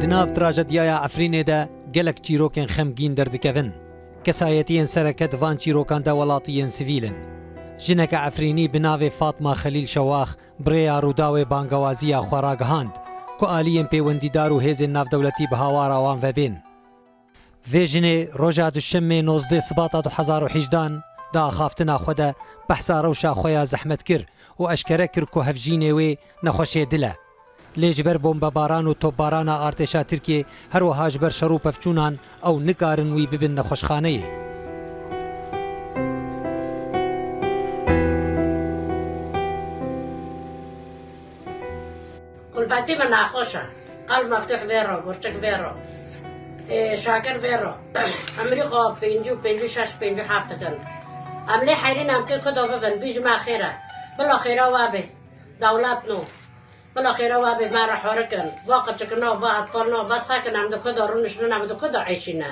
Di nav trajedyaya Efrînê de gelek çîrokên xemgîn derdikevin. Kesayetiyên sereke di van çîrokan de welatî yên sivîl in. Jineke Efrînî bi navê Fatma Xelîl Şewax bi rêya Rûdawê bangewaziya xwe ragihand ku aliyên pêwendîdar û hêzên navdewletî bi hawara wan ve bên. Vê jinê roja duşemê nozdeh sibata du hezar û hejdan di axaftina xwe de behsa rewşa xwe ya zehmet kir û eşkere kir ku hevjînê wê nexweşê dil e. Lê ji ber bombebaran û topbarana artêşa Tirkiyê her wiha ji ber şer û pevçûnan ew nikarin wî bibin nexweşxaneyê. Kulfetî min naxweş e. Qal Meftûh vê re, Gurçik vê re, Şakir vê re. Emirî xwe pêncî û pêncî û şeş, pêncî û heft dikin. Em lê heyrîn em kê ku do bibin. Bî ji me xêr e. Bila xêra we bê. Dewlet no. Bila xêra we bê me re horikin. Va qirçikina, va hetfalina, va sakin em di ku de rûniştine, em di ku de eşîne.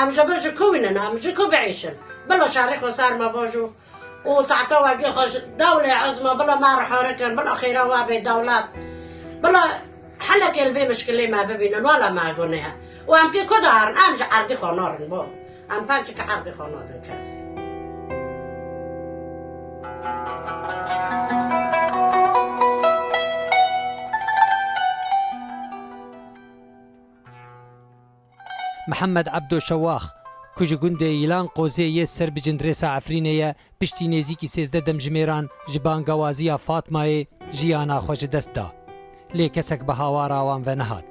Em ji vir ji ku wînin, em ji ku biêşin. Bila şerê xwe ser me bajo û saeta wegê xwe ji dewlê ez me, bila me rihirikin, bila xêra we bê dewlet, bila helekê li vê mişkilê me bibînin, wala me gunê ye. Û em tê ku de herin, em ji erdê xwe narin bo. Em pençeke erdê xwe nadin kesî. Mihemed Ebdo Şewax, ku ji gundê Yilan Qozê yê ser bi Cindirêsa Efrînê ye, piştî nêzîkî sêzdeh demjimêran ji bangawaziya Fatmayê jiyana xwe ji dest da. Lê kesek bi hawara wan ve nehat.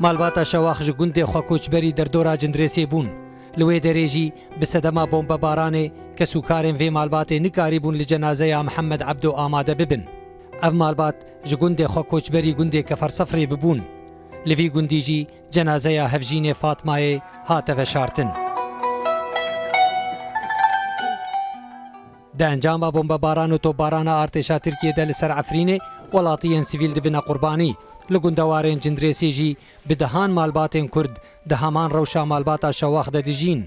Malbata Şewax ji gundê xwe koçberî derdora Cindirêsê bûn. Li wê derê jî bi sedema bombebaranê kesûkarên vê malbatê nikarîbûn li cenazeya Mihemed Ebdo amade bibin. Ev malbat ji gundê xwe koçberî gundê Kefersefrê bûn. Li vî gundî jî cenazeya hevjînê Fatmayê hate veşartin. Di encama bombebaran û topbarana artêşa Tirkiyê de li ser Efrînê welatiyên sivîl dibine qurbanî. Li gundewarên Cindirêsê jî bi dehan malbatên Kurd di heman rewşa malbata Şewax de dijîn.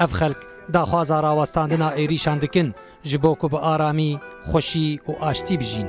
Ev xelk daxwaza rawestandina êrîşan dikin ji bo ku bi aramî, xweşî û aştî bijîn.